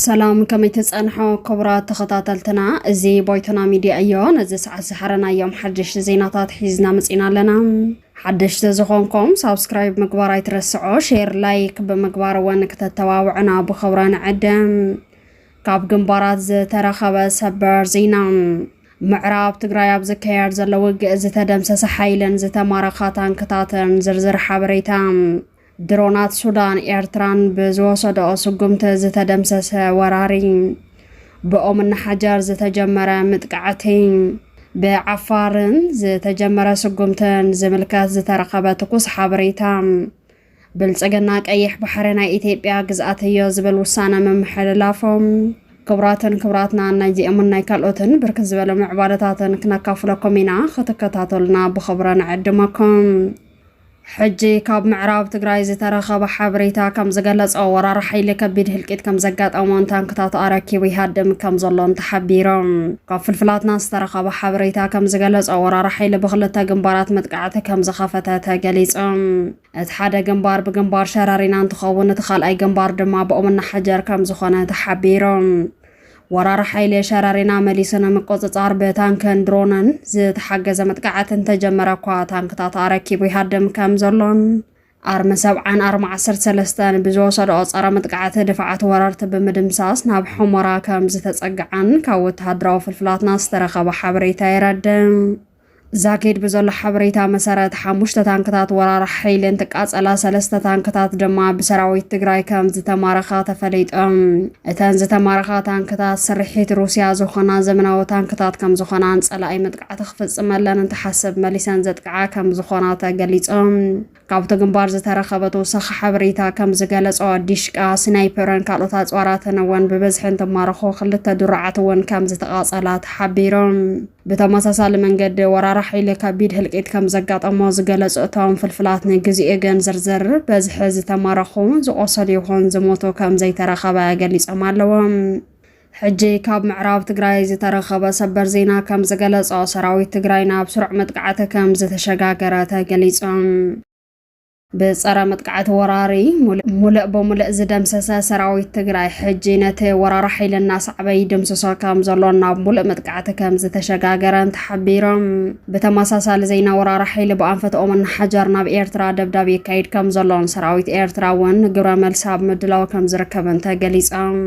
ሰላም ከመይ ተፀንሖ ክቡራት ተኸታተልትና እዚ ቦይቶና ሚድያ እዮ ነዚ ሰዓት ዝሓረናዮም ሓደሽቲ ዜናታት ሒዝና መፂና ኣለና ሓደሽቲ ዝኾንኩም ሳብስክራይብ ምግባር ኣይትረስዖ ሼር ላይክ ብምግባር እውን ክተተባብዑና ብኽብረ ንዕድም ካብ ግንባራት ዝተረኸበ ሰበር ዜና ምዕራብ ትግራይ ኣብ ዝካየድ ዘሎ ውግእ ዝተደምሰሰ ሓይልን ዝተማረኻ ታንክታትን ዝርዝር ሓበሬታ ድሮናት ሱዳን ኤርትራን ብዝወሰደኦ ስጉምቲ ዝተደምሰሰ ወራሪ ብኦምና ሓጀር ዝተጀመረ ምጥቃዕቲ ብዓፋርን ዝተጀመረ ስጉምትን ዝምልከት ዝተረኸበ ትኩስ ሓበሬታ ብልፅግና ቀይሕ ባሕሪ ናይ ኢትዮጵያ ግዝኣት እዮ ዝብል ውሳነ ምምሕልላፎም ክቡራትን ክቡራትና ናይዚኦምን ናይ ካልኦትን ብርክት ዝበለ ምዕባለታትን ክነካፍለኩም ኢና ክትከታተሉና ብኽብረ ንዕድመኩም ሕጂ ካብ ምዕራብ ትግራይ ዝተረኸበ ሓበሬታ ከም ዝገለጾ ወራር ሓይሊ ከቢድ ህልቂት ከም ዘጋጠሞን ታንክታቱ ኣረኪቡ ይሃድም ከም ዘሎን ተሓቢሮም። ካብ ፍልፍላትና ዝተረኸበ ሓበሬታ ከም ዝገለጾ ወራር ሓይሊ ብክልተ ግንባራት መጥቃዕቲ ከም ዝኸፈተ ተገሊጹ። እቲ ሓደ ግንባር ብግንባር ሸረሪና እንትኸውን እቲ ካልኣይ ግንባር ድማ ብኦምና ሓጀር ከም ዝኾነ ተሓቢሩ። ወራሪ ሓይሊ ሸረሪና መሊሱ ንምቁጽጻር ብታንክን ድሮንን ዝተሓገዘ መጥቃዕቲ እንተጀመረ እኳ ታንክታት ኣረኪቡ ይሃድም ከም ዘሎን ኣርሚ ሰብዓን ኣርሚ ዓሰርተ ሰለስተን ብዝወሰድኦ ጸረ መጥቃዕቲ ድፋዓት ወረርቲ ብምድምሳስ ናብ ሑመራ ከም ዝተጸግዓን ካብ ወተሃደራዊ ፍልፍላትና ዝተረኸበ ሓበሬታ የረድእ። ዛኪድ ብዘሎ ሓበሬታ መሰረት ሓሙሽተ ታንክታት ወራር ሓይሊ እንትቃጸላ ሰለስተ ታንክታት ድማ ብሰራዊት ትግራይ ከም ዝተማረኻ ተፈሊጦም። እተን ዝተማረኻ ታንክታት ስርሒት ሩስያ ዝኾና ዘመናዊ ታንክታት ከም ዝኾናን ጸላኢ ጥቃዕቲ ክፍፅመለን እንትሓስብ መሊሰን ዘጥቅዓ ከም ዝኾና ተገሊፆም። ካብቲ ግንባር ዝተረኸበ ተወሳኺ ሓበሬታ ከም ዝገለፆ ዲሽቃ፣ ስናይፐርን ካልኦት ኣፅዋራትን እውን ብብዝሒ እንትማረኹ ክልተ ድሩዓት እውን ከም ዝተቓፀላ ተሓቢሮም። ብተመሳሳሊ መንገዲ ወራሪ ሓይሊ ከቢድ ህልቂት ከም ዘጋጠሞ ዝገለጹ እቶም ፍልፍላት ንግዚኡ ግን ዝርዝር በዝሒ ዝተማረኹ ዝቆሰሉ ይኹን ዝሞቱ ከም ዘይተረኸበ ገሊጾም ኣለዎም። ሕጂ ካብ ምዕራብ ትግራይ ዝተረኸበ ሰበር ዜና ከም ዝገለጾ ሰራዊት ትግራይ ናብ ስሩዕ መጥቃዕቲ ከም ዝተሸጋገረ ተገሊጹ። ብጸረ መጥቃዕቲ ወራሪ ሙልእ ብሙልእ ዝደምሰሰ ሰራዊት ትግራይ ሕጂ ነቲ ወራሪ ሓይሊ እናሰዕበ ይድምስሶ ከም ዘሎን ናብ ሙሉእ መጥቃዕቲ ከም ዝተሸጋገረን ተሓቢሮም። ብተመሳሳሊ ዜና ወራሪ ሓይሊ ብኣንፈትኦም እናሓጀር ናብ ኤርትራ ደብዳብ የካይድ ከም ዘሎን ሰራዊት ኤርትራ እውን ግብረ መልሲ ኣብ ምድላው ከም ዝርከብን ተገሊጾም።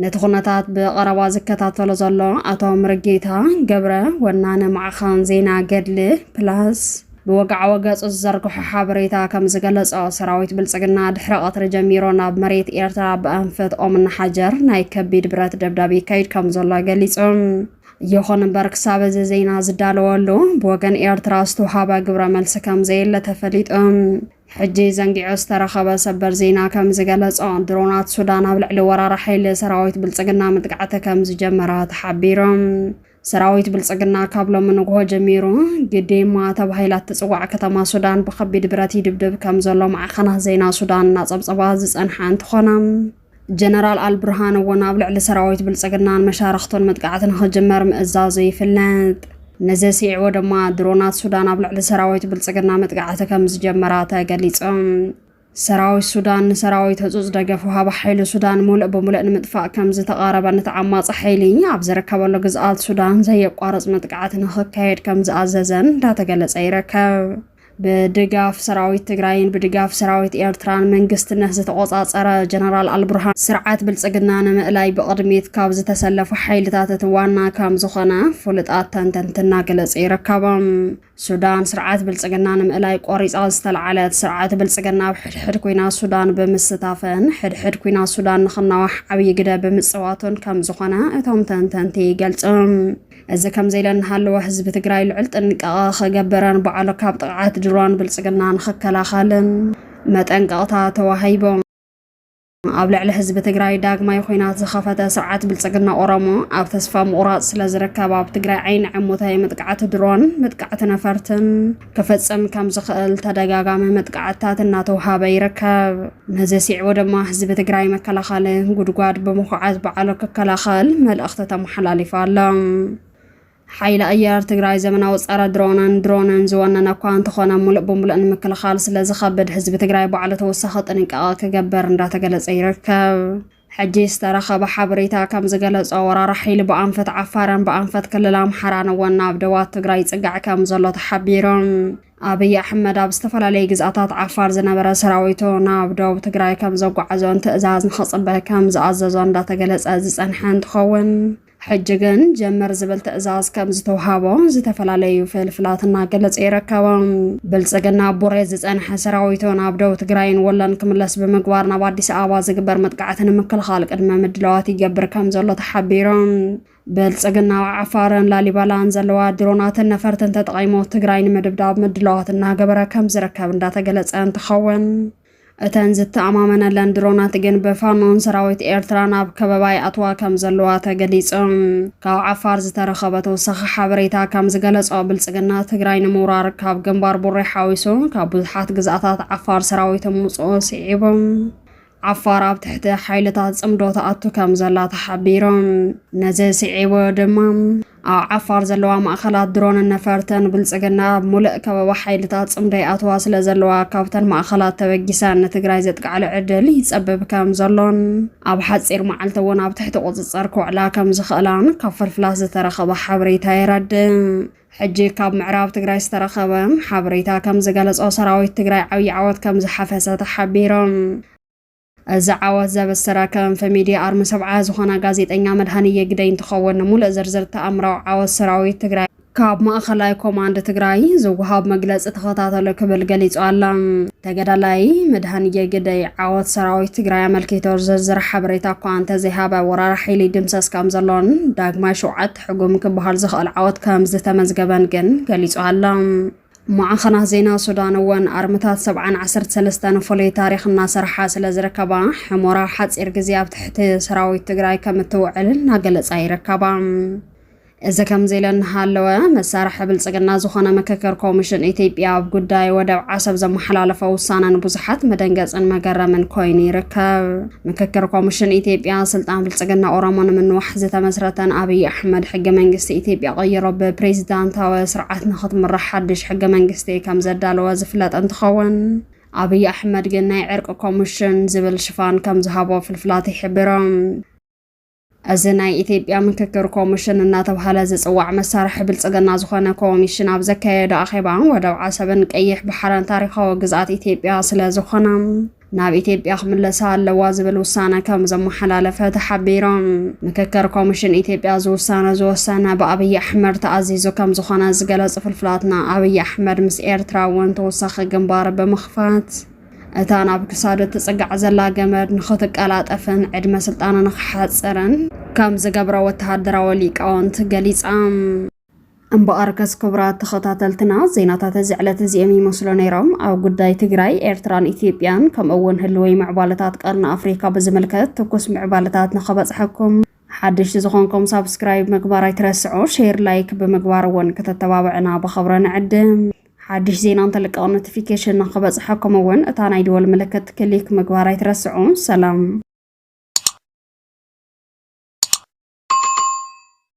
ነቲ ኩነታት ብቐረባ ዝከታተሎ ዘሎ ኣቶ ምርጌታ ገብረ ወናኒ ማዕኸን ዜና ገድሊ ፕላስ ብወግዓዊ ገጹ ዝዘርግሖ ሓበሬታ ከም ዝገለጾ ሰራዊት ብልጽግና ድሕሪ ቀትሪ ጀሚሮ ናብ መሬት ኤርትራ ብኣንፈት ኦምና ሓጀር ናይ ከቢድ ብረት ደብዳብ ይካይድ ከም ዘሎ ገሊጹ። ይኹን እምበር ክሳብ እዚ ዜና ዝዳለወሉ ብወገን ኤርትራ ዝተውሃበ ግብረ መልሲ ከም ዘየለ ተፈሊጡ። ሕጂ ዘንጊዑ ዝተረኸበ ሰበር ዜና ከም ዝገለጾ፣ ድሮናት ሱዳን ኣብ ልዕሊ ወራሪ ሓይሊ ሰራዊት ብልጽግና መጥቃዕቲ ከም ዝጀመራ ተሓቢሩ። ሰራዊት ብልጽግና ካብ ሎሚ ንግሆ ጀሚሩ ግዴማ ተባሂላ እትጽዋዕ ከተማ ሱዳን ብከቢድ ብረት ይድብድብ ከም ዘሎ ማዕኸናት ዜና ሱዳን እናጸብጸባ ዝጸንሓ እንትኾና ጀነራል ኣልቡርሃን እውን ኣብ ልዕሊ ሰራዊት ብልጽግናን መሻርኽቱን መጥቃዕቲ ንኽጅመር ምእዛዙ ይፍለጥ። ነዚ ስዒቡ ድማ ድሮናት ሱዳን ኣብ ልዕሊ ሰራዊት ብልጽግና መጥቃዕቲ ከም ዝጀመራ ተገሊጹ። ሰራዊት ሱዳን ንሰራዊት ህጹጽ ደገፍ ውሃቢ ሓይሊ ሱዳን ሙሉእ ብምሉእ ንምጥፋእ ከም ዝተቓረበን እቲ ዓማጺ ሓይሊ ኣብ ዝርከበሉ ግዝኣት ሱዳን ዘየቋርጽ መጥቃዕቲ ንኽካየድ ከም ዝኣዘዘን እንዳተገለጸ ይርከብ። ብድጋፍ ሰራዊት ትግራይን ብድጋፍ ሰራዊት ኤርትራን መንግስትነት ዝተቖጻጸረ ጀነራል ኣልቡርሃን ስርዓት ብልጽግና ንምእላይ ብቕድሚት ካብ ዝተሰለፉ ሓይልታት እቲ ዋና ከም ዝኾነ ፍሉጣት ተንተንቲ እናገለጹ ይርከቦም። ሱዳን ስርዓት ብልጽግና ንምእላይ ቆሪጻ ዝተለዓለት ስርዓት ብልጽግና ኣብ ሕድሕድ ኩና ሱዳን ብምስታፈን ሕድሕድ ኩና ሱዳን ንክናዋሕ ዓብዪ ግደ ብምጽዋቱን ከም ዝኾነ እቶም ተንተንቲ ይገልጹ። እዚ ከምዚ ኢለ እናሃለወ ህዝቢ ትግራይ ልዑል ጥንቃቐ ክገብርን ባዕሉ ካብ ጥቕዓት ድሮን ብልፅግና ንክከላኸልን መጠንቀቕታ ተዋሂቦ። ኣብ ልዕሊ ህዝቢ ትግራይ ዳግማይ ኹናት ዝኸፈተ ስርዓት ብልፅግና ኦሮሞ ኣብ ተስፋ ምቑራፅ ስለዝርከብ ኣብ ትግራይ ዓይኒ ዕሙተ መጥቃዕቲ ድሮን፣ መጥቃዕቲ ነፈርትን ክፍፅም ከም ዝኽእል ተደጋጋሚ መጥቃዕትታት እናተውሃበ ይርከብ። ነዚ ሲዕቡ ድማ ህዝቢ ትግራይ መከላኸሊ ጉድጓድ ብምኹዓት ባዕሉ ክከላኸል መልእኽቲ ተመሓላሊፉ ኣሎ። ሓይሊ ኣየር ትግራይ ዘመናዊ ጸረ ድሮንን ድሮንን ዝወነነ እኳ እንተኾነ ሙሉእ ብምሉእ ንምክልኻል ስለ ዝኸብድ ህዝቢ ትግራይ ባዕሉ ተወሳኺ ጥንቃቐ ክገብር እንዳተገለጸ ይርከብ። ሕጂ ዝተረኸበ ሓበሬታ ከምዝገለፆ ወራሪ ሓይሊ ብኣንፈት ዓፋርን ብኣንፈት ክልል ኣምሓራን እውን ናብ ደባት ትግራይ ይፅጋዕ ከምዘሎ ተሓቢሩ። ኣብይ ኣሕመድ ኣብ ዝተፈላለዩ ግዝኣታት ዓፋር ዝነበረ ሰራዊቱ ናብ ደቡብ ትግራይ ከምዘጓዓዞን ትእዛዝ ንክፅበ ከምዝኣዘዞ እንዳተገለፀ ዝፀንሐ እንትኸውን ሕጂ ግን ጀምር ዝብል ትእዛዝ ከም ዝተውሃቦ ዝተፈላለዩ ፍልፍላት እናገለጸ ይረከባ። ብልጽግና ቡሬ ዝጸንሐ ሰራዊቱ ናብ ደቡብ ትግራይን ወሎን ክምለስ ብምግባር ናብ ኣዲስ ኣበባ ዝግበር መጥቃዕቲ ንምክልኻል ቅድመ ምድላዋት ይገብር ከም ዘሎ ተሓቢሩ። ብልጽግና ኣብ ዓፋርን ላሊበላን ዘለዋ ድሮናትን ነፈርትን ተጠቒሞ ትግራይ ንምድብዳብ ምድላዋት እናገበረ ከም ዝርከብ እንዳተገለጸ እንትኸውን እተን ዝተኣማመነለን ድሮናት ግን ብፋኖን ሰራዊት ኤርትራን ኣብ ከበባ ይኣትዋ ከም ዘለዋ ተገሊጹ። ካብ ዓፋር ዝተረኸበ ተወሳኺ ሓበሬታ ከም ዝገለጾ ብልጽግና ትግራይ ንምውራር ካብ ግንባር ቡሬ ሓዊሱ ካብ ብዙሓት ግዝኣታት ዓፋር ሰራዊት ምውጽኡ ስዒቡ ዓፋር ኣብ ትሕቲ ሓይልታት ጽምዶ ተኣቱ ከም ዘላ ተሓቢሩ። ነዚ ስዒቡ ድማ ኣብ ዓፋር ዘለዋ ማእኸላት ድሮንን ነፈርትን ብልፅግና ኣብ ሙልእ ከበባ ሓይልታት ፅምዶ ይኣትዋ ስለ ዘለዋ ካብተን ማእኸላት ተበጊሰን ንትግራይ ዘጥቅዓሉ ዕድል ይፀብብ ከም ዘሎን ኣብ ሓፂር መዓልቲ እውን ኣብ ትሕቲ ቁፅፅር ክውዕላ ከም ዝኽእላን ካብ ፍልፍላት ዝተረኸበ ሓበሬታ የረድእ። ሕጂ ካብ ምዕራብ ትግራይ ዝተረኸበ ሓበሬታ ከም ዝገለፆ ሰራዊት ትግራይ ዓብዪ ዓወት ከም ዝሓፈሰ ተሓቢሩ። እዛ ዓወት ዘበሰራ ከንፈ ሚድያ ኣርሚ ሰብዓ ዝኾና ጋዜጠኛ መድሃንየ ግደይ እንትኸውን ንሙሉእ ዝርዝር ተኣምራዊ ዓወት ሰራዊት ትግራይ ካብ ማእኸላይ ኮማንድ ትግራይ ዝወሃብ መግለፂ ተኸታተሉ ክብል ገሊፁ ኣላ። ተገዳላይ መድሃንየ ግደይ ዓወት ሰራዊት ትግራይ ኣመልኪቶ ዝርዝር ሓበሬታ እኳ እንተዘይሃበ ወራሪ ሓይሊ ይድምሰስ ከምዘሎን ዳግማይ ሸውዓተ ሕጉም ክበሃል ዝኽእል ዓወት ከምዝተመዝገበን ግን ገሊፁ ኣላ። ማዕኸናት ዜና ሱዳን እውን ኣርምታት ሰብዓን ዓሰርተ ሰለስተን ፍሉይ ታሪኽ እናሰርሓ ስለ ዝርከባ ሕሞራ ሓፂር ግዜ ኣብ ትሕቲ ሰራዊት ትግራይ ከም እትውዕል እናገለፃ ይርከባ። እዚ ከምዚ ኢለ እናሃለወ መሳርሒ ብልፅግና ዝኾነ ምክክር ኮሚሽን ኢትዮጵያ ኣብ ጉዳይ ወደብ ዓሰብ ዘመሓላለፈ ውሳነ ንብዙሓት መደንገፅን መገረምን ኮይኑ ይርከብ። ምክክር ኮሚሽን ኢትዮጵያ ስልጣን ብልጽግና ኦሮሞ ንምንዋሕ ዝተመስረተን ኣብይ ኣሕመድ ሕገ መንግስቲ ኢትዮጵያ ቀይሮ ብፕሬዚዳንታዊ ስርዓት ንክትምራሕ ሓድሽ ሕገ መንግስቲ ከም ዘዳለወ ዝፍለጥ እንትኸውን ኣብይ ኣሕመድ ግን ናይ ዕርቂ ኮሚሽን ዝብል ሽፋን ከም ዝሃቦ ፍልፍላት ይሕብሮም። እዚ ናይ ኢትዮጵያ ምክክር ኮሚሽን እናተብሃለ ዝፅዋዕ መሳርሒ ብልፅግና ዝኾነ ኮሚሽን ኣብ ዘካየዶ ኣኼባ ወደብ ዓሰብን ቀይሕ ባሕርን ታሪኻዊ ግዝኣት ኢትዮጵያ ስለዝኾና ናብ ኢትዮጵያ ክምለሳ ኣለዋ ዝብል ውሳነ ከም ዘመሓላለፈ ተሓቢሩ። ምክክር ኮሚሽን ኢትዮጵያ እዚ ውሳነ ዝወሰነ ብኣብይ ኣሕመድ ተኣዚዙ ከም ዝኾነ ዝገለፁ ፍልፍላትና ኣብይ ኣሕመድ ምስ ኤርትራ እውን ተወሳኺ ግንባር ብምኽፋት እታ ናብ ክሳዱ እትጽጋዕ ዘላ ገመድ ንኽትቀላጠፍን ዕድመ ስልጣኑ ንኽሓጽርን ከም ዝገብሮ ወተሃደራዊ ሊቃውንቲ ገሊጻም። እምበኣርከስ ክቡራት ተኸታተልትና ዜናታት እዚ ዕለት እዚኦም ይመስሉ ነይሮም። ኣብ ጉዳይ ትግራይ፣ ኤርትራን ኢትዮጵያን ከምኡ'ውን ህልወይ ምዕባለታት ቀርኒ ኣፍሪካ ብዝምልከት ትኩስ ምዕባለታት ንኸበጽሐኩም ሓደሽቲ ዝኾንኩም ሳብስክራይብ ምግባር ኣይትረስዑ፣ ሼር ላይክ ብምግባር እውን ክተተባብዕና ብኸብረ ንዕድም። ሓድሽ ዜና እንተልቀቕ ኖቲፊኬሽን ንክበፅሐኩም እውን እታ ናይ ደወል ምልክት ክሊክ ምግባር ኣይትረስዑ። ሰላም